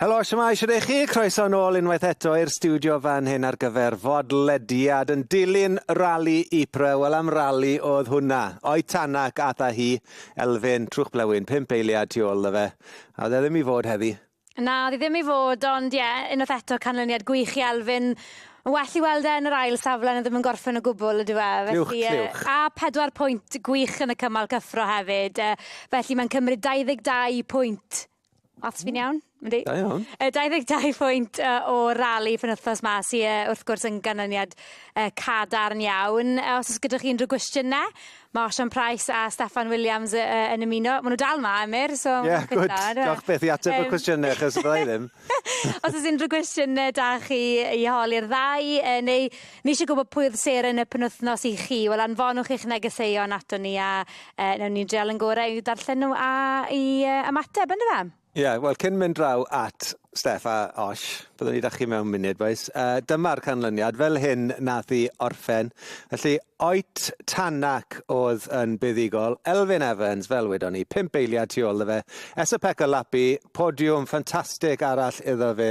Helo, shwmae, shwd ych chi? Croeso yn ôl unwaith eto i'r stiwdio fan hyn ar gyfer fodlediad yn dilyn rali Ypres. Wel, am rali oedd hwnna. O'i Tanac ath â hi, Elfyn, Trwch Blewyn, pump eiliad tu ôl iddo fe. A oedd e ddim i fod heddi. Na, oedd hi ddim i fod, ond ie, unwaith eto canlyniad gwych i Elfyn. Mae'n well i weld e yn yr ail safle na ddim yn gorffen o gwbl, ydyw e? Clywch, Felly, yy, clywch. a pedwar pwynt gwych yn y cymal cyffro hefyd, yy, felly mae'n cymryd 22 pwynt Maths fi'n iawn? Yndi. Da iawn. Yy 22 pwynt yy o rali penwthnos 'ma sy yy wrth gwrs yn ganlyniad yy cadarn iawn. Yy os o's gyda chi unryw gwestiyne ma' Osian Price a Steffan Williams yy yy yn ymuno. Ma' nw dal 'ma Emyr so... Ie good. Diolch byth i ateb y cwestiyne achos fyddai ddim. Os o's unryw gwestiyne 'da chi i holi'r ddau yy neu Ni eisiau gwybod pwy oedd seren y penwythnos i chi. Wel, anfonwch eich negeseuon ato ni a e, newn ni'n dreol yn gorau i'w darllen nhw a i e, ymateb, ynddo fe? Ie, yeah, wel, cyn mynd draw at Steff a Osh, byddwn ni da chi mewn munud, boes. Uh, dyma'r canlyniad, fel hyn nath i orffen. Felly, Oet Tanak oedd yn buddigol, Elfyn Evans, fel wedon ni, pimp eiliad tu ôl fe, Esapeka Lapi, podiwm ffantastig arall iddo fe,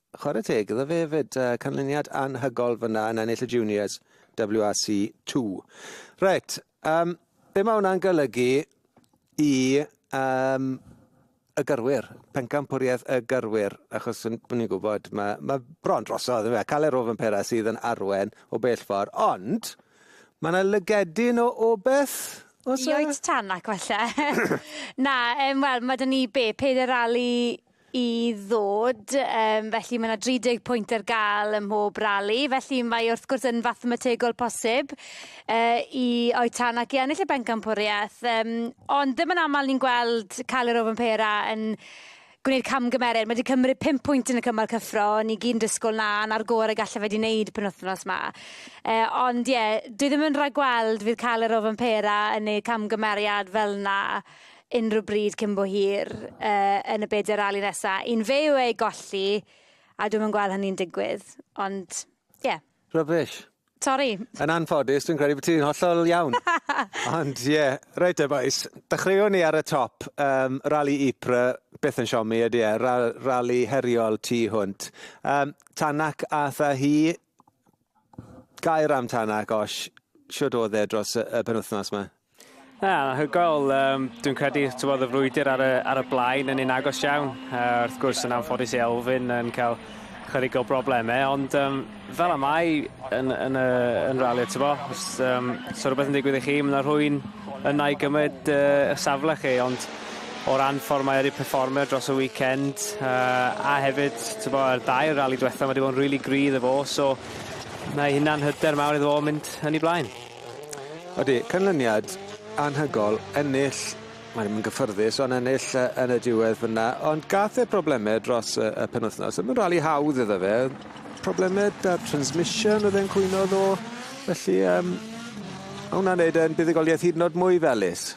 Chwarae teg iddo fe hefyd, uh, canlyniad anhygol fyna yn ennill y juniors WRC 2. Reit, um, be mae hwnna'n golygu i um, y gyrwyr, pencampwriaeth y gyrwyr, achos yn ni'n gwybod, mae, mae bron drosodd, fe, cael ei rof yn pera sydd yn arwen o bell ffordd, ond mae yna lygedyn o obeth Os Ioet tan ac falle. Na, um, wel, mae dyn ni be, peder rali i ddod, yym, felly mae 'na 30 pwynt ar gael ym mhob rali, felly mae wrth gwrs yn fathemategol posib uh, i Oetanak i ennill y bencampwriaeth, um, ond ddim yn aml ni'n gweld cael yr ofyn pera yn gwneud camgymeriad. Mae wedi cymryd 5 pwynt yn y cymal cyffro, ni gyn dysgol na, na'r gor y gallaf wedi wneud pen wythnos yma. E, ond ie, yeah, dwi ddim yn rhaid gweld fydd cael yr ofyn pera yn ei camgymeriad fel na. unrhyw bryd cyn bo hir uh, yn y byd yr ali nesa. I'n fe yw ei golli, a dwi'n yn gweld hynny'n digwydd. Ond, ie. Yeah. Rubbish. Sorry. Yn anffodus, dwi'n credu bod ti'n hollol iawn. Ond ie, yeah, reit e boys, dechreuwn ni ar y top. Um, rali Ypres, beth yn siomi ydy e, rali heriol tu hwnt. Um, Tanak a tha hi, Gair am Tana, gosh, shwd oedd e dros y, y penwthnos yma? Na, hygoel. Um, dwi'n credu tyfodd y frwydr ar y, ar y blaen yn un agos iawn. Uh, wrth gwrs yn anffodus i Elfyn yn cael chydig o broblemau, ond um, fel y mae yn, yn, y, yn rali, ti'n bo, os um, so rhywbeth yn digwydd i chi, mae'n rhwy'n yna i gymryd uh, y safle chi, ond o ran ffordd mae wedi perfformio dros y weekend uh, a hefyd tybo, yr dair rali diwetha mae wedi bod yn really grydd efo so mae hynna'n hyder mawr iddo fo mynd yn ei blaen. Ydy, canlyniad anhygol, ennill, mae'n mynd gyffyrddus, ond ennill uh, yn y diwedd fyna, ond gath e problemau dros uh, y penwthnos. Mae'n rali hawdd iddo fe, problemau da transmission oedd e'n cwyno ddo, felly um, hwnna'n neud e'n buddigoliaeth hyd yn oed mwy felus.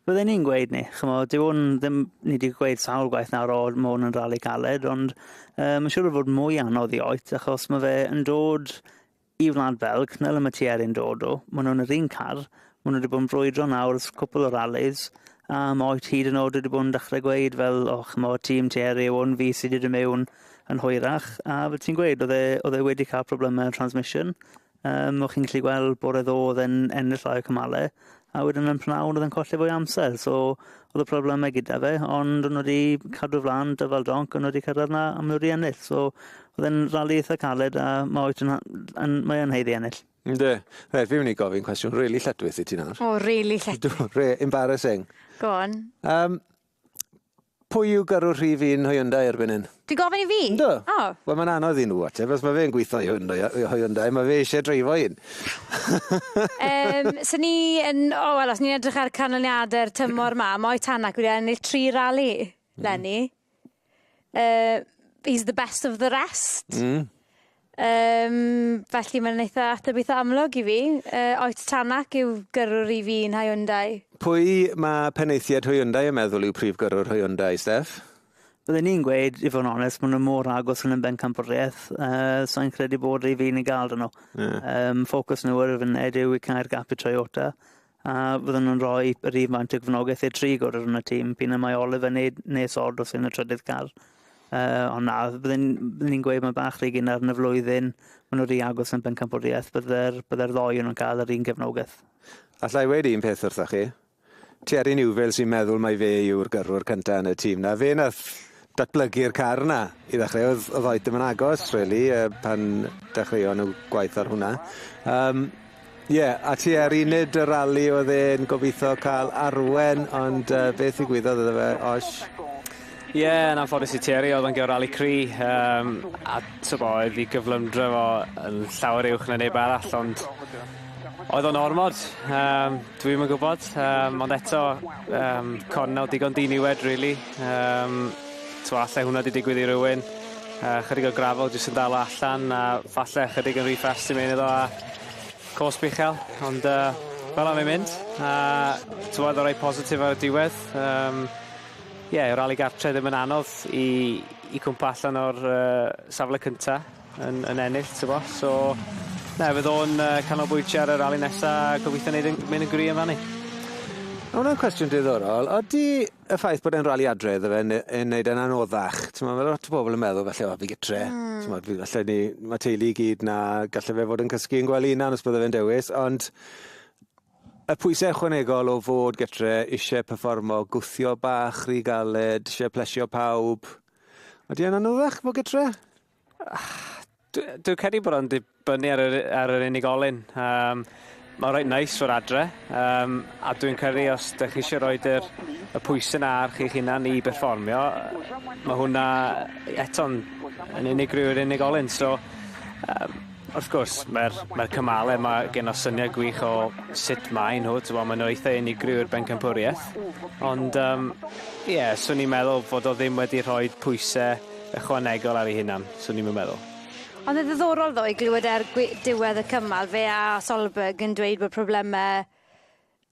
Bydden ni'n gweud ni, ch'mod, dyw hwn ddim... Ni 'di gweud sawl gwaith nawr, o, ma' hwn yn rali caled, ond yy ma' siŵr o fod mwy anodd i oed, achos ma' fe yn dod i Wlad Belg, na le ma' Thierry'n dod o. Ma' nhw yn yr un car, ma' nhw 'di bod yn brwydro nawr ers cwpwl o ralis, a ma' oed hyd yn o'd wedi bod yn dechre gweud fel, o ch'mod, tîm Thierry yw hwn, fi sy 'di dod mewn yn hwyrach, a fel ti'n gweud, o'dd e o'dd e wedi ca'l probleme transmission, Yym, o'ch chi'n gallu gweld bore ddo oedd e'n ennill llai o cymale, a wedyn yn pnawn oedd e'n colli fwy o amser, so oedd y problemau gyda fe, ond o'n wedi cadw flan dyfal donc, o'n wedi cyrraedd na, a mae wedi ennill. So oedd e'n rali eitha caled a mae oes yn, yn, mae o'n heiddi ennill. Ynddo. Reit, fi'n mynd i gofyn cwestiwn rili really lletwyth i ti nawr. O, rili really lletwyth. Re, embarrassing. Go on. Um, Pwy yw gyrrwr rhif un Hyundai erbyn hyn? Ti'n gofyn i fi? Yndw. O! Wel mae'n anodd i nhw ateb os mae fe'n gweithio i Hyundai a- i Hyundai mae fe eisiau dreifo un. Yym so ni yn o wel os ni'n edrych ar canlyniade'r tymor 'ma ma' Oetanac wedi ennill tri rali leni. Yy he's the best of the rest. Hmm. Yym felly mae'n eitha ateb eitha amlwg i fi. Yy oes Tanak yw gyrrwr i fi yn Hyundai. Pwy mae penaethiaid Hyundai yn meddwl yw prif gyrrwr Hyundai, Steff? Byddwn i'n gweud, i fod yn onest, maen nhw mor agos yn y bencampwriaeth, uh, sa'n credu bod rhi fi'n ei gael dyn nhw. Yeah. Um, ffocws nhw ar y funud yw i cael gap i Toyota, a fyddwn yn rhoi rhywfaint o gefnogaeth i'r tri gwrdd yn y tîm. Pyn y mae Oliver yn neud nes odd wrth yn y trydydd car. Uh, ond na, byddwn ni'n gweud mae bach rhygyn ar yn y flwyddyn, maen nhw rhy agos yn bencampwriaeth, bydde'r bydde ddoi nhw'n cael yr un gefnogaeth. Alla i weid un peth wrthoch chi? Terry Newville sy'n meddwl mai fe yw'r gyrrwr cyntaf yn y tîm na. Fe nath datblygu'r car yna i ddechreu o'dd o'dd oed dim yn agos rili yy pan dechreuon nw gwaith ar hwnna yym ie a tua'r uned y rali o'dd e'n gobitho ca'l arwen ond yy beth ddigwyddodd iddo fe osh? Ie yn anffodus i Thierry o'dd o'n geo rali cry yym a t'bo oedd 'i gyflymdra fo yn llawer uwch na neb arall ond Oedd o'n ormod. Yym dwi'm yn gwbod yym ond eto yym cornel digon diniwed rili yym t'mo' alle hwnna 'di digwydd i rywun yy chydig o gravel jyst yn dal o allan a falle ychydig yn ry fast i mewn iddo a cosb uchel ond yy fel arfer mae'n mynd a t'mod y' reit positif ar y diwedd yym ie y rali gartre ddim yn anodd i i cwmpo allan o'r yy safle cynta. yn yn ennill t'bo so na fydd o'n yy canolbwyntio ar y rali nesa a gobeithio neud yn mynd yn gry' amdani. Ma' wnna'n cwestiwn diddorol ydi y ffaith bod e'n rali adre iddo fe ne- yn neud e'n anoddach t'mo' ma' lot o bobol yn meddwl falle o fi gytre. Hmm. T'mod fi falle ni ma' teulu i gyd 'na galle fe fod yn cysgu yn gwely 'unan os bydde fe'n dewis ond y pwyse ychwanegol o fod gytre isie perfformo gwthio bach rhy galed isie plesio pawb. Ydi e'n anoddach fo' gytre? Dwi, dwi credu bod o'n dibynnu ar yr, ar yr unigolyn. Um, Mae'n rhaid neis fod adre, um, a dwi'n credu os ydych chi eisiau rhoi yr, y pwysau na ar chi'ch hunan i berfformio, mae hwnna eto'n yn unigryw i'r unigolyn. So, um, wrth gwrs, mae'r mae cymalau, mae gen o syniad gwych o sut mae nhw, ti'n bod, maen nhw eitha unigryw i'r bencampwriaeth. Ond, ie, um, yeah, swn i'n meddwl fod o ddim wedi rhoi pwysau ychwanegol ar ei hunan, swn i'm yn meddwl. Ond yn ddiddorol ddo i glywed er gwe- diwedd y cymal fe a Solberg yn dweud bod probleme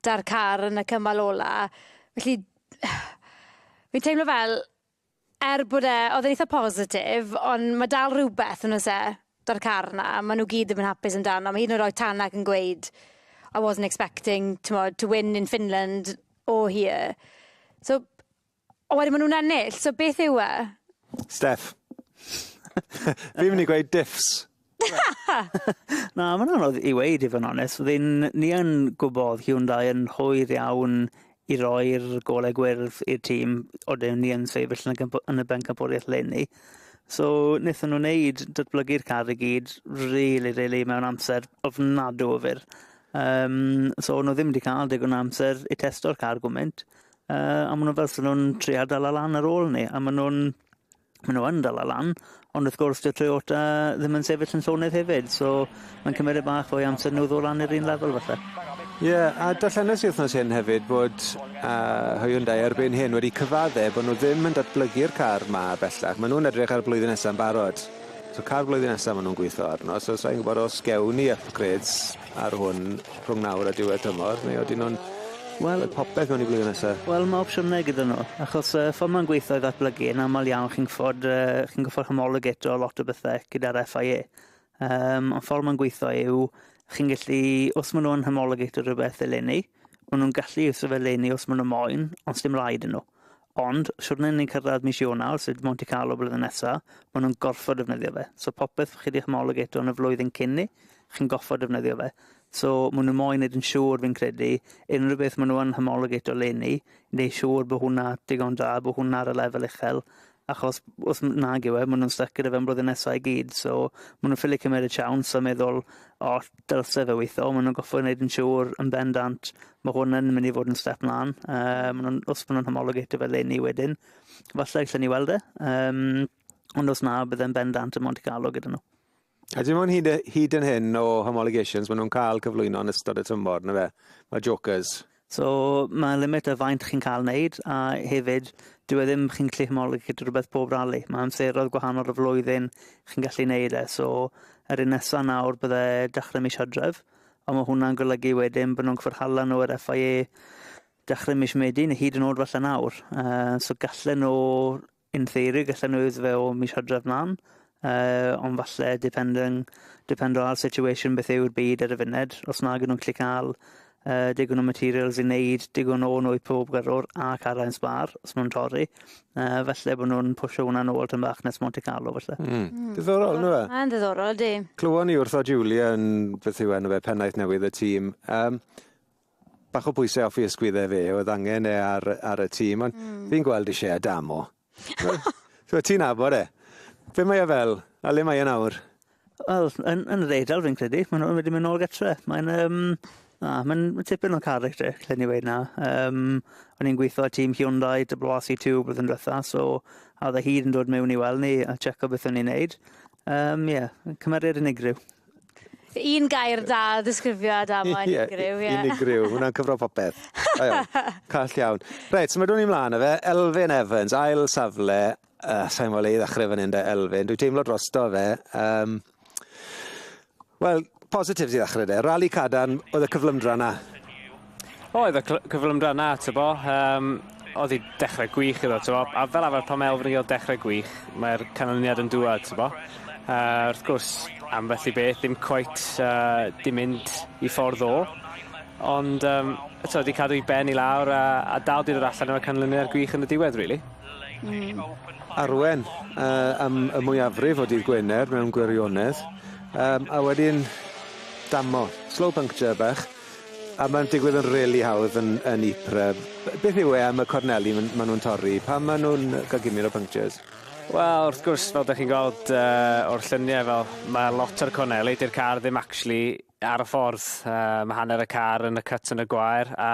'da'r car yn y cymal ola. Felly fi'n teimlo fel er bod e o'dd e'n eitha positif ond ma' dal rhywbeth yn o's e? 'Da'r car 'na ma' nw gyd ddim yn hapus amdano ma' hyd yn oed oe Tanak yn gweud I wasn't expecting t'mod to win in Finland or here. So O wedyn ma' nw'n ennill so beth yw e? Steff. Fi'n myn' i gweud diffs. Na ma'n anodd i weud i fo' yn onest fi'n ni yn gwbod Hyundai yn hwyr iawn i roi'r gole gwyrdd i'r tîm odyn ni yn sefyll yn y gympo- yn y bencampwriaeth leni. So nethon nw neud datblygu'r car i gyd rili rili mewn amser ofnadw o fyr. Yym so o' nw ddim 'di ca'l digon o amser i testo'r car gwment Uh, a maen nhw fel sy'n nhw'n trio dal y lan ar ôl ni, a maen nhw'n maen nhw yn dal y lan, ond wrth gwrs dyw Toyota ddim yn sefyll yn llonydd hefyd, so mae'n cymryd bach o'i amser nhw ddod lan i'r un lefel falle. Ie, yeah, a darllenes i wythnos hyn hefyd bod uh, Hyundai erbyn hyn wedi cyfadde bod nhw ddim yn datblygu'r car ma bellach. Maen nhw'n edrych ar y blwyddyn nesaf yn barod. So car blwyddyn nesaf maen nhw'n gweithio arno, so sa'n gwybod os gewn ni upgrades Ar hwn, rhwng nawr a diwedd tymor, neu odyn nhw'n, wel, y popeth mewn i flwyddyn nesa? Wel, ma' opsiynau gyda nhw, achos yy ffor ma'n gweitho i ddatblygu, yn amal iawn chi'n ffod yy chi'n goffod homologeto lot o bethe gyda'r FIA. Yym ond ffor ma'n gweitho yw chi'n gellu, os ma' nhw'n homologeto rhywbeth eleni, ma' nhw'n gallu iwso fe eleni os ma' nhw moyn, ond sdim raid i nhw. Ond, shwt nen ni'n cyrraedd mis Ionawr, sut Monte Carlo blwyddyn nesa, ma' nhw'n gorffod defnyddio fe. So popeth chi 'di homologato yn y flwyddyn cyn 'ny, chi'n goffod defnyddio fe. So, ma' nhw moyn neud yn siŵr, fi'n credu, unrhyw beth ma' nhw yn homologato 'leni, neud siŵr bo' hwnna digon da, bo' hwnna ar y lefel uchel, achos os m- nag yw e, ma' nhw'n styc gyda fe am blwyddyn nesa i gyd. So, ma' nhw'n ffili cymeryd siawns a meddwl, O, dylse fe weitho, ma' nhw'n goffod neud yn siŵr yn bendant Mae hwn yn mynd i fod yn step mlaen. Uh, ma nhw'n, os maen nhw'n homologated fe leni wedyn, falle allan ni weld e. Um, ond os na, bydd e'n bendant y Monte Carlo gyda nhw. A dim ond hyd, hyd yn hyn o homologations maen nhw'n cael cyflwyno yn ystod y tymor, na fe? Mae jokers. So mae limit y faint chi'n cael wneud a hefyd dwi e ddim chi'n gallu homologate rhywbeth pob rali. Mae amseroedd gwahanol y flwyddyn chi'n gallu wneud e. So yr un nesaf nawr bydde dechrau mis hydref. Ond mae hwnna'n golygu wedyn bod nhw'n cyfarhala nhw ar FIA dechrau mis Medi, neu hyd yn oed falle nawr. Uh, so gallen nhw, in theory, gallen nhw iddo fe o mis hydref mlaen, uh, ond falle depending, depending ar situation beth yw'r byd ar y funud, os nag nhw'n gallu cael uh, digon o materials i wneud digon o nwy pob gyrrwr a cara'n sbar, os nhw'n torri, Uh, falle bod nhw'n pwysio hwnna nôl tyn bach nes Monte Carlo, falle. Mm. Mm. Diddorol, ynddo fe? Mae'n ddiddorol, di. Clywon ni wrtho Julia yn, beth yw enw fe, pennaeth newydd y tîm. Um, bach o bwysau offi ysgwyddau fe, oedd angen e ar, ar y tîm, ond mm. fi'n gweld eisiau Adamo. so, ti'n abod e. Be mae e fel? A le mae e nawr? Wel, yn, yn yr eidl, fi'n credu. Mae nhw'n wedi mynd nôl gytre. Mae'n... Um, na, mae'n ma tipyn o carreg te, lle ni wedi na. Um, o'n i'n gweithio tîm Hyundai, WRC2, blwyddyn diwetha, so a dda hyd yn dod mewn i weld ni a checo beth o'n i'n neud. Um, yeah, cymeriad unigryw. Un gair da ddisgrifio Adamo, unigryw. Ie, unigryw, hwnna'n cyfro popeth. Call iawn. Reit, so mae dwn i mlaen o fe. Elfyn Evans, ail safle, Uh, sa'n gwybod le i ddechrau fan hyn da Elfyn. Dwi'n teimlo drosto fe. Um, Wel, positives i ddechrau de. Rali Cadan, oedd y cyflymdra na? O, oedd y cyflymdra na, ty bo. Um, oedd i dechrau gwych iddo, ty bo. A fel arfer pan mae Elfyn yn cael dechrau gwych, mae'r canlyniad yn dŵad, ty bo. Uh, wrth gwrs, ambell i beth, ddim cweit, uh, dim mynd i ffordd o. Ond, um, eto, wedi cadw i ben i lawr a, a dal dyn o'r allan o'r canlyniad gwych yn y diwedd, really. arwain yy am y mwyafrif o dydd Gwener mewn gwirionedd yym a wedyn damo, slow puncture bach a ma'n digwydd yn rili hawdd yn yn Ypres. B- beth yw e am y corneli myn- ma' nw'n torri pan ma' nw'n yy ca'l gimyr o punctures? Wel wrth gwrs fel 'dych chi'n gweld yy o'r llunie fel ma' lot o'r corneli 'di'r car ddim actually ar y ffordd yy ma' hanner y car yn y cut yn y gwair a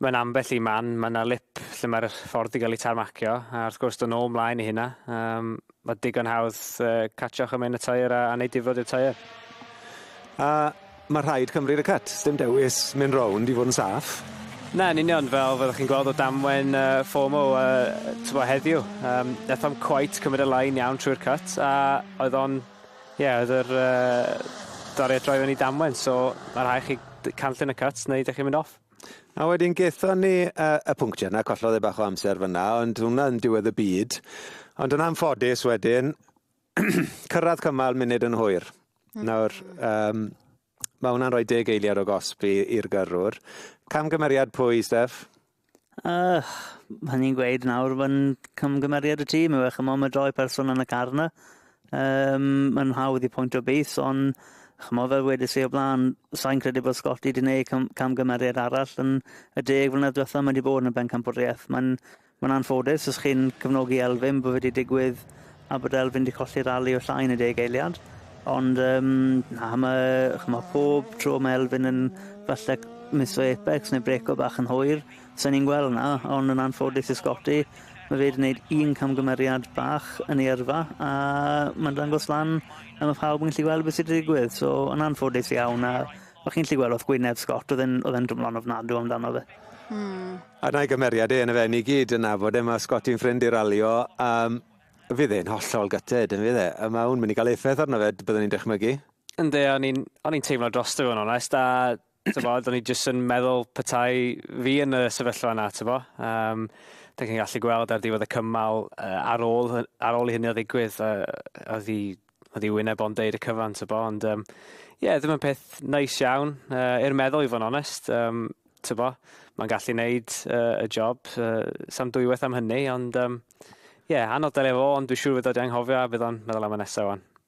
Mewn ambell i man, mae yna lip lle mae'r ffordd 'di gael ei tarmacio, a wrth gwrs, do' nôl mlaen i hynna. Yym, mae digon hawdd uh, catcho chymaint y tair a, a wneud difrod i'r tair. A mae rhaid cymryd y cut, sdim dewis mynd rownd i fod yn saff. Na, yn union, fel fyddwch chi'n gweld o damwen uh, FOMO uh, tybo heddiw. Um, Nath o'm cwait cymryd y lain iawn trwy'r cut, a oedd o'n... Ie, yeah, oedd yr uh, doriad droi fyny damwen, so mae rhaid chi canllun y cut neu ydych chi'n mynd off. A wedyn gethon ni uh, y pwnctio yna, collodd e bach o amser fyna, ond hwnna yn diwedd y byd. Ond yn anffodus wedyn, cyrraedd cymal munud yn hwyr. Mm. Nawr, um, mae hwnna'n rhoi deg eiliad o gosb i'r gyrrwr. Camgymeriad pwy, Steph? Uh, hynny'n gweud nawr, mae'n camgymeriad y tîm yw e, chymod, mae doi person yn y car yna. Yym, mae'n hawdd i pwyntio bys, ond ch'mod, fel wedes i o blaen, sai'n credu bod Scotty 'di neud cam- camgymeriad arall yn y deg mlynedd dwetha. Mae 'di bod yn y bencampwriaeth. Mae'n mae'n anffodus os chi'n cefnogi Elfyn bod fe 'di digwydd a bod Elfyn 'di colli rali o llai na deg eiliad. Ond yym na ma' ch'mo' pob tro ma' Elfyn yn falle misso apex neu brêco bach yn hwyr Sa ni'n gweld 'na, ond yn anffodus i Scotty, ma' fe 'di neud un camgymeriad bach yn ei yrfa, a ma'n dangos lan a ma' pawb yn gallu gweld be' sy' 'di digwydd, so yn anffodus iawn, a o' chi'n gallu gweld wrth gwyneb Scott o'dd e'n o'dd e'n dwmlo'n ofnadw amdano fe. Hmm. A 'na'i gymeriad e, 'na fe, ni gyd yn nabod e, ma' Scotty'n ffrind i Ralio, a fydd e'n hollol gutted, yn fydd e? A ma' hwn mynd i ga'l effaith arno fe, byddwn i'n dychmygu. Yndi, o'n i'n o'n i'n teimlo drosto fe yn onest, a Tybo, do'n i jyst yn meddwl petai fi yn y sefyllfa yna, tybo. Um, da chi'n gallu gweld ar diwedd y cymal uh, ar, ôl, ar ôl i hynny o ddigwydd, uh, oedd i oedd i wyneb o'n deud y cyfan, ty bo, ond ie, um, yeah, ddim yn peth nice iawn, uh, i'r meddwl i fod yn onest, um, ty bo, mae'n gallu wneud uh, y job, uh, sam dwywaith am hynny, ond ie, um, yeah, anodd delio fo, ond dwi'n siŵr fydod i anghofio a bydd o'n meddwl am y nesaf o'n.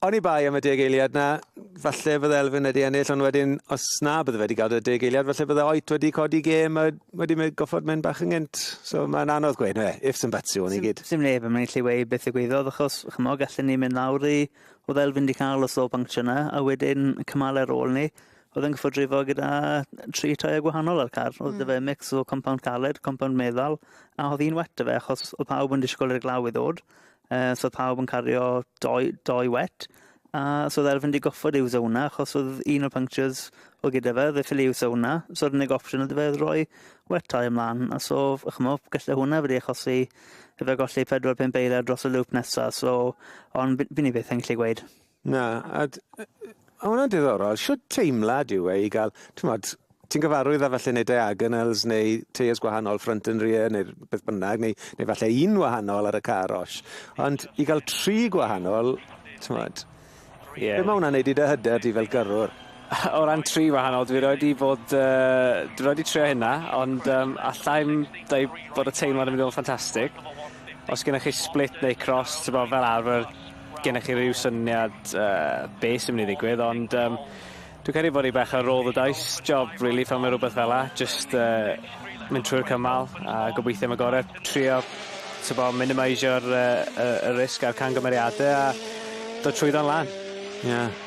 Oni bai am y deg eiliad 'na, falle bydde Elfyn wedi ennill, ond wedyn, os na, bydde fe wedi cael y deg eiliad, falle bydde Oit wedi codi gêm a wedi mynd goffod mynd bach yn gynt. So mae'n anodd gweud, na fe, ifs and buts yw hwn i gyd. Sim neb yn mynd i allu weud beth ddigwyddodd, achos ch'mo' gallen ni mynd lawr i oedd Elfyn 'di cael y slo banctio 'na, a wedyn y cymale ar ôl 'ny, oedd e'n gorffod rifo gyda tri tyre gwahanol ar car. Oedd 'da fe hmm. mix o compownd caled, compownd meddal, a oedd un wet 'da fe achos oedd pawb yn disgwyl i'r glaw i ddod, Uh, so oedd pawb yn cario doi, doi wet. A uh, so oedd Erfyn wedi goffod ei wso hwnna, achos oedd un o'r punctures o gyda fe, oedd ffili wso hwnna. So yr unig opsiwn oedd fe oedd rhoi wet tai ymlaen. A so, chymol, gallai hwnna wedi achosi fe golli 4-5 beiriau dros y loop nesaf. So, ond fi'n ei beth yn gallu gweud. Na, a d- yy yy o wnna'n diddorol. Shwd teimlad yw e i ga'l t'mod ti'n gyfarwydd â falle neu diagonals neu teiers gwahanol ffrynt yn rear neu r- beth bynnag neu neu falle un wahanol ar y car osh ond i ga'l tri gwahanol t'mod... Ie. ...be' ma' wnna'n neud i dy hyder di fel gyrrwr? O ran tri wahanol dwi rioed 'di bod yy dwi rioed 'di trio hynna ond yym allai'm deu' bod y teimlad yn mynd i fod yn ffantastic. Os gennych chi split neu cross t'bo fel arfer gennych chi rhyw syniad uh, be sy'n mynd i ddigwydd, ond um, dwi'n credu bod i bach ar roll the dice job, really, fan mae rhywbeth fel la, just uh, mynd trwy'r cymal a gobeithio am y gorau, trio tybo, minimisio'r uh, y, y risg a'r cangymeriadau a dod trwyddo'n lan. Yeah.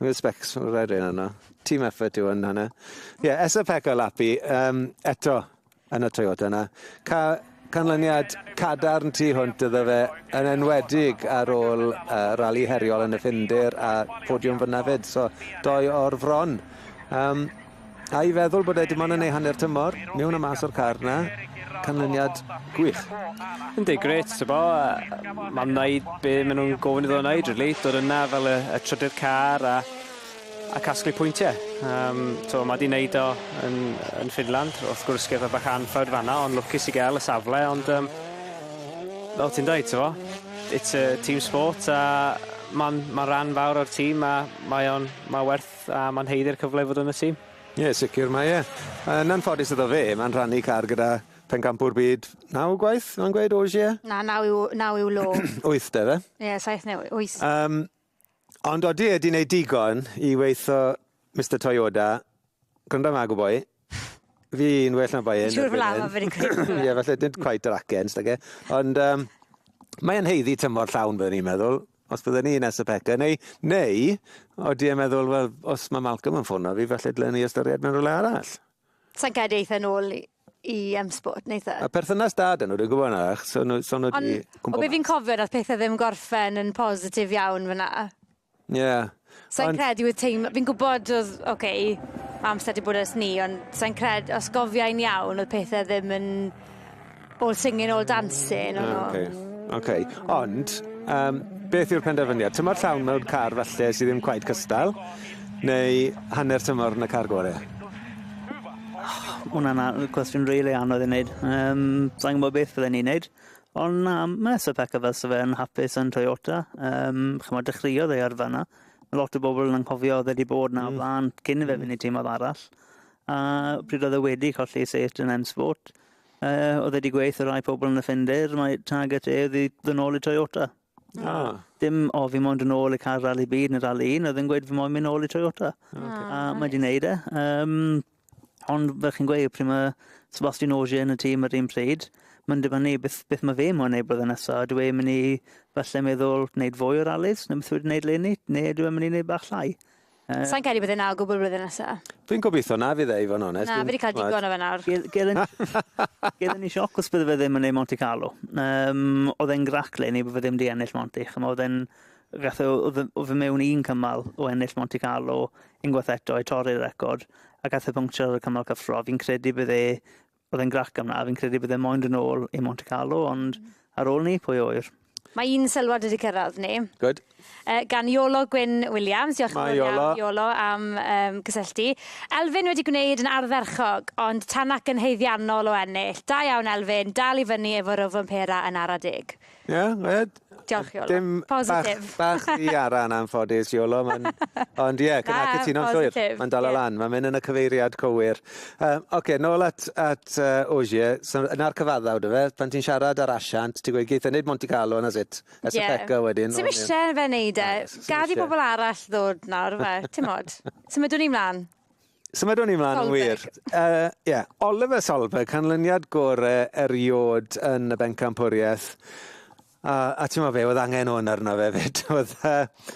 Mae specs o'r aeriau yna. Team effort yw yn hynna. Ie, yeah, Esa Pekka Lapi, um, eto yn y Toyota yna. Ca canlyniad cadarn tu hwnt iddo fe yn enwedig ar ôl uh, rali heriol yn y Ffindir a podiwm fyna fyd. So, doi o'r fron. Um, A'i feddwl bod e dim ond yn ei hanner tymor, mewn a mas o'r car 'na. Canlyniad gwych. Yndi, gret, bo, mae'n wneud be maen nhw'n gofyn iddo wneud, really. Dod yna fel y, y trydydd car a, a casglu pwyntiau. Um, so, mae di wneud o yn, yn Finland. Wrth gwrs, gyda bach anffawd fanna, ond lwcus i gael y safle, ond... Um, fel ti'n dweud, ti'n fo, it's a team sport a mae'n ma rhan fawr o'r tîm a mae o'n, mae werth A mae'n haeddu'r cyfle i fod yn y tîm? Ie, sicr mae e. Yn anffodus iddo fe, mae'n rhannu car gyda phencampwr byd naw gwaith, mae'n gweud, Ogier? Na, naw yw, naw yw law. Wyth de fe? Ie, yeah, saith neu wyth. Um, ond odi e di wneud digon i weitho Mr Toyota, gwrando yma gwboi, Fi'n well na Bayern. Siwr fel arfer fi'n credu. Ie, falle dim quite yr acen, stage. Ond um, mae'n heiddi tymor llawn, byddwn i'n meddwl, os byddwn ni nes y peca, neu, neu, oeddi i'n meddwl, wel, os mae Malcolm yn ffono fi, falle dylen ni ystyried mewn rhywle arall. Sa'n gael eitha nôl i, i um, sport neitha. A perthynas da dyn nhw, dwi'n gwybod yna, so nhw, so nhw di... Ond, o beth fi'n cofio, nath pethau ddim gorffen yn positif iawn fyna. Ie. Sai'n credu oedd teimlo... Fi'n gwybod oedd, oce, ma' amser 'di bod ers 'ny ond sai'n cred- os gofiai'n iawn oedd pethe ddim yn all singing all dancing o'n n'w. Oce. Oce. Ond yym beth yw'r penderfyniad? Tymor llawn mewn car falle sy ddim cweit cystal neu hanner tymor yn y car gore? Ma' wnna'n a- cwestiwn rili anodd i neud. Yym sai'n gwbo beth fydden i'n neud. Ond na, mae Sir Packer fel sa fe yn hapus yn Toyota. Um, chymod, dechreuodd ei arfa yna. Mae lot o bobl yn anghofio oedd wedi bod na mm. flan cyn i fe fynd i tîm oedd arall. A pryd oedd e wedi colli set yn M-Sport, uh, oedd wedi gweithio rai pobl yn y ffinder, mae target e oedd i ddynol i Toyota. Ah. Dim, o, fi moyn dod nôl i cael rali byd neu rali un, oedd yn gweud fi moyn mynd nôl i Toyota. Oh, okay. A ah, mae di wneud e. Um, ond fel chi'n gweud, pryd mae Sebastian Ogier yn y tîm yr un pryd, mae'n dibynnu beth, beth mae fe moyn ei blwyddyn nesaf. Dwi e'n mynd i falle meddwl wneud fwy o ralis, neu beth wedi wneud leni, neu dwi e'n mynd i wneud bach llai. Yy. Sai'n credu bydd e 'na o gwbwl flwyddyn nesa. Dwi'n gobitho na fydd e i fo' yn onest. Na fi 'di ca'l digon o fe nawr. Gedd- gedd yn gedd yn i sioc os bydde fe ddim yn neu' Monte Carlo. Yym odd e'n grac leni bo' fe ddim 'di ennill Monte ch'mo' odd e'n gath o odd e o fe mewn un cymal o ennill Monte Carlo unwaith eto i torri'r record a gath e puncture ar y cymal cyffro fi'n credu bydd e Oedd e'n grac am na, fi'n credu bydd e moyn dod nôl i Monte Carlo, ond mm. ar ôl ni, pwy oer? Mae un sylwad wedi cyrraedd ni. Good. Uh, gan Iolo Gwyn Williams. Diolch yn fawr iawn, Iolo, am um, gysylltu. Elfyn wedi gwneud yn ardderchog, ond tan ac yn heiddiannol o ennill. Da iawn, Elfyn. Dal i fyny efo rofyn pera yn ara deg. Ie grêt. Diolch Iolo. Dim... Positif. ...bach bach rhy ara yn anffodus Iolo ma'n ond ie cy- na cytuno'n llwyr. Na positif. Ma'n dala lan ma'n myn' yn y cyfeiriad cywir. Yy oce nôl at at yy Ogier so 'na'r cyfaddawd yfe pan ti'n siarad â'r asiant ti gweud geith e neud Monte Carlo and that's it. Ie. Estafeta wedyn. Ti'm isie fe neud e. Gad i bobol arall ddod nawr yfe? Ti'mod? Symudwn ni mlan. Symudwn ni mlaen yn wir. Uh, yeah. Oliver Solberg, canlyniad gore eriod yn y bencampwriaeth. A, a ti'n meddwl fe, oedd angen hwn arno fe fyd. oedd, uh,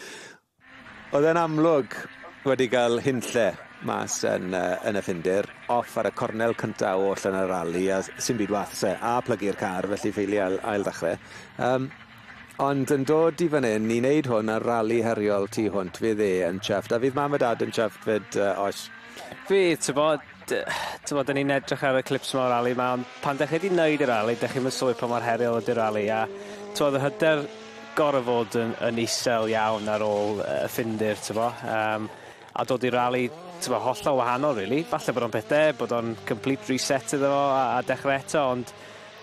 oedd e'n amlwg wedi cael hunlle mas yn, uh, yn y ffindir, off ar y cornel cyntaf oll yn y rali, a sy'n byd wath se, a plygu'r car, felly ffeili ail, ail ddechrau. Um, Ond yn dod i fan hyn i wneud hwn ar rali heriol tu hwnt, fydd e yn chuffed, a fydd mam a dad yn chuffed fyd, uh, oes? Fydd, ti'n bod, ti'n bod, ni'n edrych ar y clips yma o'r rali yma, ond pan dech chi wedi wneud y rali, dech chi'n mynd sylwi pa mor heriol ydy'r rali, a ti'n bod, y hyder gorau fod yn, yn isel iawn ar ôl y ffindir, ti'n bod, um, a dod i rali, ti'n bod, hollol wahanol, really. Falle bod o'n peth da, bod o'n complete reset iddo fo a, a dechrau eto, ond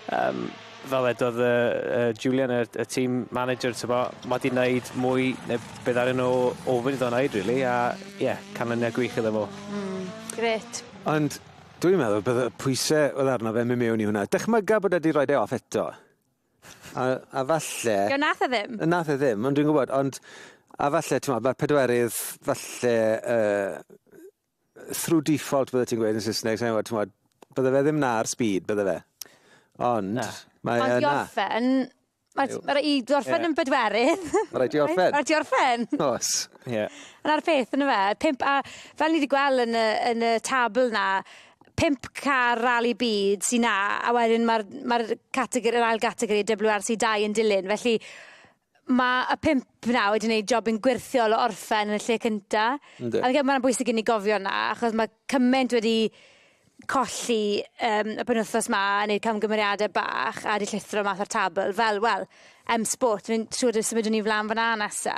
Yym, fel wedodd yy yy Julian y y team manager t'bo' ma' 'di neud mwy ne' be' ddaru nw ofyn iddo neud rili a ie canlyniad gwych iddo fo. Hmm, grêt. Ond dwi'n meddwl bydde y pwyse odd arno fe myn' mewn i hwnna. Dychmyga bod e 'di roid e off eto. A a falle... Ie on' nath e ddim. On' nath e ddim ond dwi'n gwbod ond a falle t'mod ma'r pedwerydd falle yy through default bydde ti'n gweud yn Saesneg, sa'n gwybod, t'mod, bydde fe ddim 'na ar speed, bydde fe? Ond, Na. mae Ond e 'na. orffen, mae ma' raid i orffen yn bedwerydd. Mae rhaid ti orffen. Mae rhaid ti orffen. Os. Ie. Yna'r peth yna fe, pump a fel ni wedi gweld yn y yn y tabl 'na, pump car rali byd sy 'na, a wedyn mae'r mae'r categori yr ail gategori WRC dau yn dilyn, felly Mae y pump na wedi gwneud job yn gwirthiol o orffen yn y lle cynta. Ynddi. A fi'n credu mae'n bwysig i ni gofio 'na, achos mae cymaint wedi colli um, y penwthos ma, yn neud camgymeriadau bach a wedi llithro math o'r tabl, fel, wel, em sport, fi'n siŵr dwi symud ni flan fyna nesa.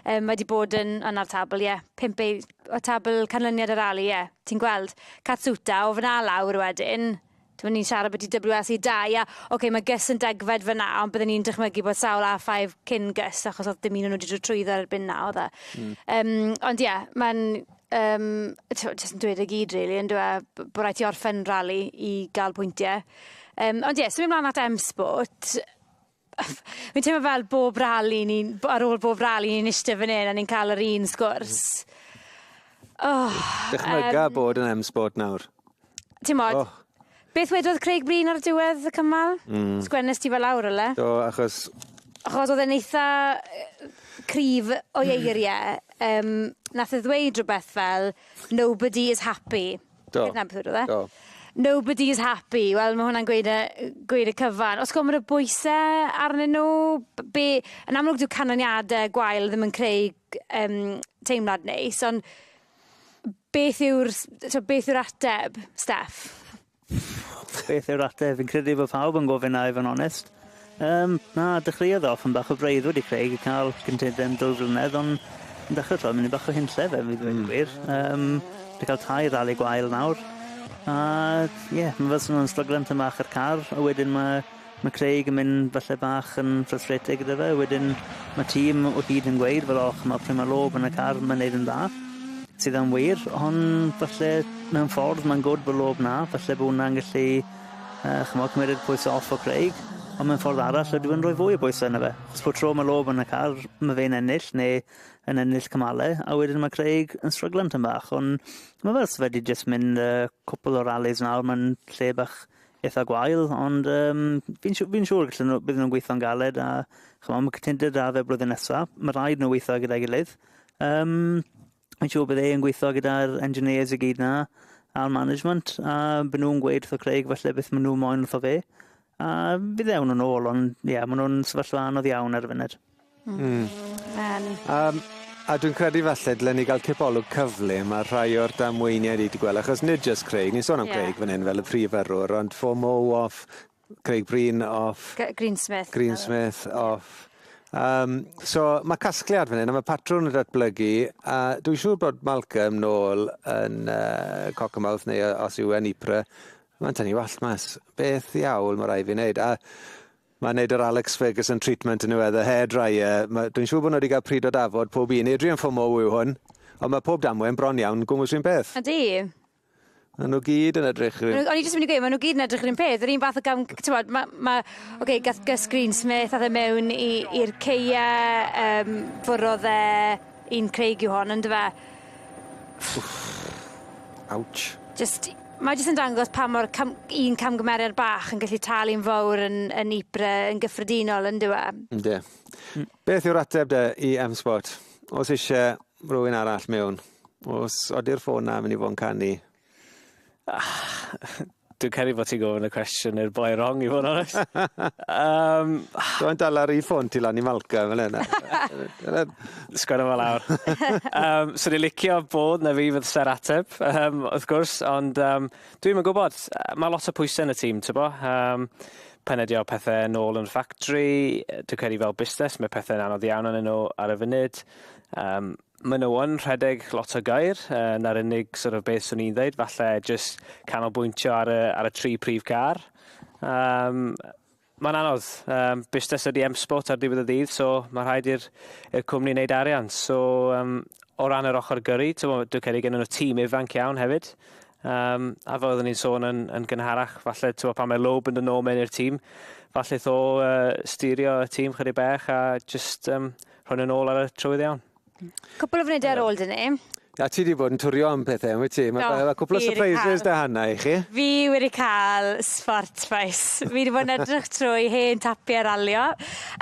Um, mae wedi bod yn yna'r tabl, ie. Yeah. Pimp ei, o tabl canlyniad yr ali, ie. Yeah. Ti'n gweld, Catsuta, o fyna lawr wedyn, Dyma ni'n siarad byti WS i dau a oce mae Gus yn degfed fyna ond byddwn ni'n dychmygu bod sawl A5 cyn Gus achos oedd dim un o'n nhw wedi dod trwyddo erbyn na oedd e. Mm. Um, ond ie, yeah, mae'n um, jyst yn dweud y gyd rili, really, yn dweud bod rhaid i orffen rali i gael pwyntiau. Um, ond ie, yeah, symud mlaen at M-Sport, Fi'n teimlo fel bob rali ni'n b- ar ôl bob rali ni'n iste fan 'yn a ni'n ca'l yr un sgwrs. O! Dychmyga yym. bod yn M-Sport nawr. T'mod? Oh. Beth wedodd Craig Breen ar diwedd y cymal? Mm. Sgwennes ti fe lawr ylle? Do, achos... Achos odd e'n eitha yy cryf o'i eirie. Yym nath e ddweud rwbeth fel nobody is happy. Do. Ger Nantpeur oedd e? Do. Nobody is happy. Wel ma' hwnna'n gweud y yy gweud y cyfan. Os gofyn y bwyse arnyn nw b- be' yn amlwg dyw canlyniade gwael ddim yn creu g- yym teimlad neis on' beth yw'r s- t'o' beth yw'r ateb, Steff? Beth yw'r ateb? Fi'n credu bo' pawb yn gofyn 'na i fo' yn onest. Yym, na, dechreuodd e off yn bach o freuddwyd i Craig i ca'l gynted yn dwy flynedd on' yn dechre t'wod myn' i bach o hunlle fe fi ddweud y gwir. Yym, 'di ca'l tair rali gwael nawr a ie ma' fel swn nw'n stryglan tym bach a'r car a wedyn ma' ma' Craig yn mynd falle bach yn frustrated gyda fe wedyn ma' tîm o hyd yn gweud fel o ch'mo' pry' ma' lob yn y car ma'n neud yn dda. Sydd yn wir on' falle mewn ffordd ma'n good bo' lob 'na falle bo' wnna'n gellu A ch'mod cymerid pwyse off o Craig on' mewn ffordd arall ydw yn rhoi fwy o bwyse yno fe. Os po tro ma' Loeb yn y car ma' fe'n ennill ne' yn ennill cymale a wedyn ma' Craig yn stryglan tym bach on' ma' fe os fedri jyst mynd yy cwpwl o rallis nawr ma'n lle bach itha gwael ond yym fi'n siw- fi'n siŵr gallen nw bydden nw'n gweitho'n galed a ch'mo' ma' cytundeb 'da fe blwyddyn nesa ma' raid nw weitho gyda'i gilydd. Yym. Mae'n siŵr bydd e yn gweithio gyda'r engineers i gyd 'na, a'r management, a bydden nhw'n gweud wrtho Craig falle beth maen nhw moyn wrtho fe, a bydd e awn nhw'n ôl, ond ie, yeah, maen nhw'n sefyllfa anodd iawn ar y funud. Mm. Um, um, a dwi'n credu falle dylen ni gael cipolwg cyflym ar rhai o'r damweiniau ni wedi gweld, achos nid jyst Craig, ni'n sôn am yeah. Craig fan hyn fel y prif yrrwr, ond fo Mo off, Craig Breen off. G Greensmith. Greensmith off. Um, so mae casgliad fan hyn, a mae patrwn yn datblygu, a dwi'n siŵr bod Malcolm nôl yn uh, Cockermouth neu os yw e'n Ypres, mae'n tynnu wallt mas. Beth iawn mae rai fi wneud. A mae'n neud yr Alex Ferguson treatment yn yw e, the hair dryer. Dwi'n siŵr bod nhw wedi cael pryd o dafod pob un. Adrian Fomo yw hwn, ond mae pob damwen bron iawn, gwmwys un peth. Ydy. Maen nhw gyd yn edrych yr un... O'n i jyst yn mynd i gweud, maen nhw gyd yn edrych yr un peth, yr un fath o gam, tywod, mae, ma, oce, okay, gath Gus Greensmith ath e mewn i'r ceia, um, fwrodd e un Craig yw hon, ynddo fe? Ouch. Just, mae jyst yn dangos pa mor cam, un camgymeriad bach yn gallu talu'n fawr yn, yn Ypres yn gyffredinol, ynddo fe? Ynddo. Mm. Beth yw'r ateb de i M-Spot? Os eisiau rhywun arall mewn? Os ody'r ffôn na, mynd i fod yn canu. Dwi'n credu bod ti'n gofyn y cwestiwn i'r boi wrong i fod yn onest. um, Dwi'n dal ar ei ffôn ti lan i Malca fel yna. Sgwrna fel awr. um, so ni'n licio bod na fi fydd ser ateb, um, wrth gwrs, ond um, dwi'n yn gwybod, mae lot o pwysau yn y tîm, ti'n bo? Um, penedio pethau yn ôl yn ffactri, dwi'n credu fel busnes, mae pethau'n anodd iawn yn nhw ar y funud. Um, Maen nhw yn rhedeg lot o gair, yy 'na'r unig sort of beth swn i'n ddeud, falle jyst canolbwyntio ar y ar y tri prif gair. Yym mae'n anodd. Yym busnes ydi M-Sport ar diwedd y dydd, so ma' rhaid i'r i'r cwmni wneud arian. So yym o ran yr ochr gyrru, t'mo' dwi'n credu gennyn nhw tîm ifanc iawn hefyd. Yym a fel oedden ni'n sôn yn yn gynharach, falle t'mo' pan mae Loeb yn dod nôl mewn i'r tîm, falle 'tho yy styrio y tîm chydig bach a jyst yym Hwn yn ôl ar y trywydd iawn. Cwpl o fnydau ar ôl dyn ni. A ti wedi bod yn twrio am pethau, yn wyt ti? Mae no, cwpl o surprises da hynna i chi. Fi wedi cael sport faes. Fi wedi bod yn edrych trwy hen tapiau ralio.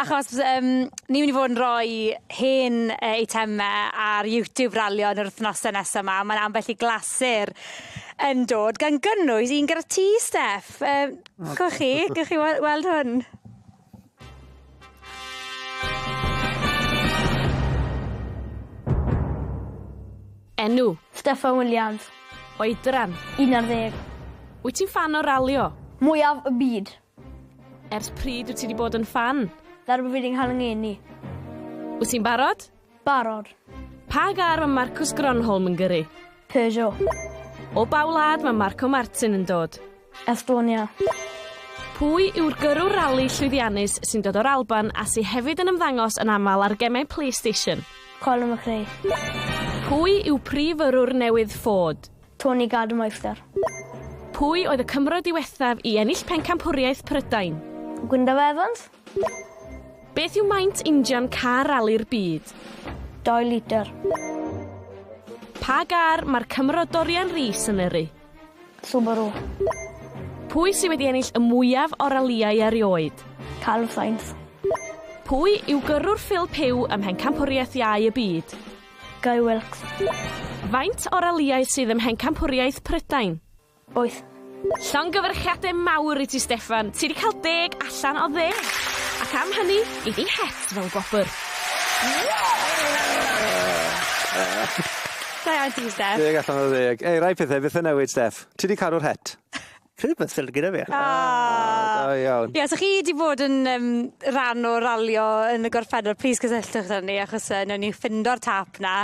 Achos um, ni wedi bod yn rhoi hen uh, eitemau ar YouTube ralio yn yr wythnosau nesaf yma. Mae'n ambell i glasur yn dod gan gynnwys un gyda ti, Steff. Um, oh, chi, gwych chi weld hwn? Enw? Steffan Williams. Oedran? 11. Wyt ti'n ffan o ralio? Mwyaf y byd. Ers pryd wyt ti 'di bod yn ffan? Darby Feedingham yng Ngeni. Wyt ti'n barod? Barod. Pa gar mae Marcus Gronholm yn gyrru? Peugeot. O ba wlad mae Marco Martin yn dod? Estonia. Pwy yw'r gyrrwr rali llwyddiannus sy'n dod o'r Alban a sy hefyd yn ymddangos yn aml ar gemau PlayStation? Colin McRae. Pwy yw prif yrrwr newydd Ford? Tony Gardemeister. Pwy oedd y Cymro diwethaf i ennill Pencampwriaeth Prydain? Gwyndaf Evans. Beth yw maint injan car rali'r byd? 2 litr. Pa gar mae'r Cymro Dorian Rees yn yrru? Subaru. Pwy sydd wedi ennill y mwyaf o ralïau erioed? Carlos Sainz. Pwy yw gyrrwr Phil Pugh ym Mhencampwriaeth Iau y Byd? Guy Wilkes. Faint o ralïau sydd ym Mhencampwriaeth Prydain? Wyth. Llongyfarchiadau mawr i ti Steffan, ti 'di cael deg allan o ddeg! Ac am hynny, gei di het fel gwobr. Da iawn ti Steff. Deg allan o ddeg. Ei, rai pethau byth yn newid Steff. Ti 'di cadw'r het. Chi 'di bod sylwi gyda fi. O! Da iawn. Ie, os o'ch chi 'di bod yn yym ran o ralio yn y gorffennol plîs cysylltwch â ni achos yy newn ni ffindo'r tâp 'na.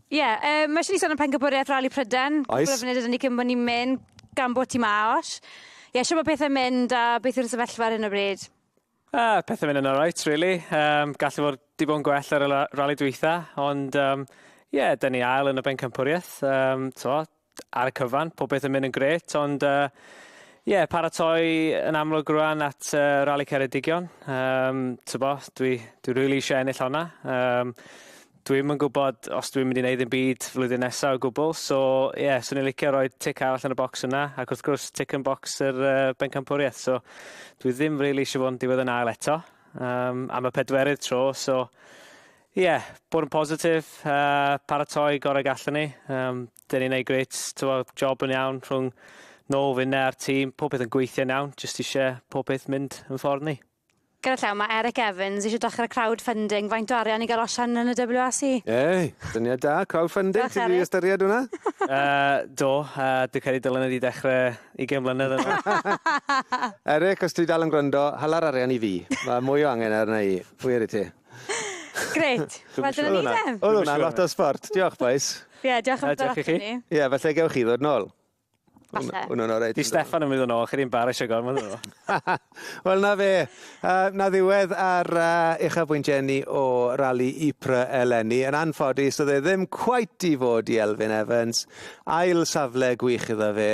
Ie, yeah, uh, mae eisiau ni sôn am pencampwriaeth Rali Pryden. Oes. Cwbl o funud ydyn ni cyn bod ni'n mynd gan bod ti ma, Osh. Ie, yeah, siw mae pethau'n mynd a beth yw'r sefyllfa ar hyn o bryd? Uh, pethau'n mynd yn alright, really. Um, gallu fod di bod yn gwell ar y rali dwytha, ond um, ie, yeah, dyn ni ail yn y bencampwriaeth. Um, to, ar y cyfan, popeth yn mynd yn gret, ond uh, Ie, yeah, paratoi yn amlwg rwan at uh, Rally Ceredigion. Um, Tybo, dwi, dwi really eisiau ennill honna. Um, dwi'n yn gwybod os dwi'n mynd i wneud yn byd flwyddyn nesaf o gwbl. So, ie, yeah, swn i'n licio roi tic arall yn y bocs yna. Ac wrth gwrs, tic yn bocs yr uh, bencampwriaeth. So, dwi ddim really eisiau fod yn diwedd yn ail eto. Um, am y pedwerydd tro, so... Ie, bod yn positif, uh, paratoi gorau gallwn ni. Um, Dyn ni'n ei grit, tywod, job yn iawn rhwng nôl finne a'r tîm. Pob peth yn gweithio'n iawn, jyst eisiau pob peth mynd yn ffordd ni. Gyda llaw, mae Eric Evans eisiau dechrau crowdfunding. Faint o arian i gael osian yn y WRC? Ei, dyniad da, crowdfunding, ti'n rhi ystyried hwnna? uh, do, uh, dwi'n credu dylen ydi dechrau i gen mlynedd yn Eric, os ti dal yn gwrando, hala'r arian i fi. Mae mwy o angen ar yna i. Pwy ar i ti? Grêt. Wel dyna ni de. Oedd hwnna'n lot o sbort. Diolch bois. Ie, diolch am dod ati. Ie, falle gewch chi ddod nôl. Falle. Hwna'n oreit. Di Steffan yn mynd yn ôl, chi ddim barisio gormod o. Wel na fe. Uh, na ddiwedd ar uh, uchafbwynt Jenny o rali Ypres eleni. Yn anffodus, oedd e ddim cwait i fod i Elfyn Evans. Ail safle gwych iddo fe.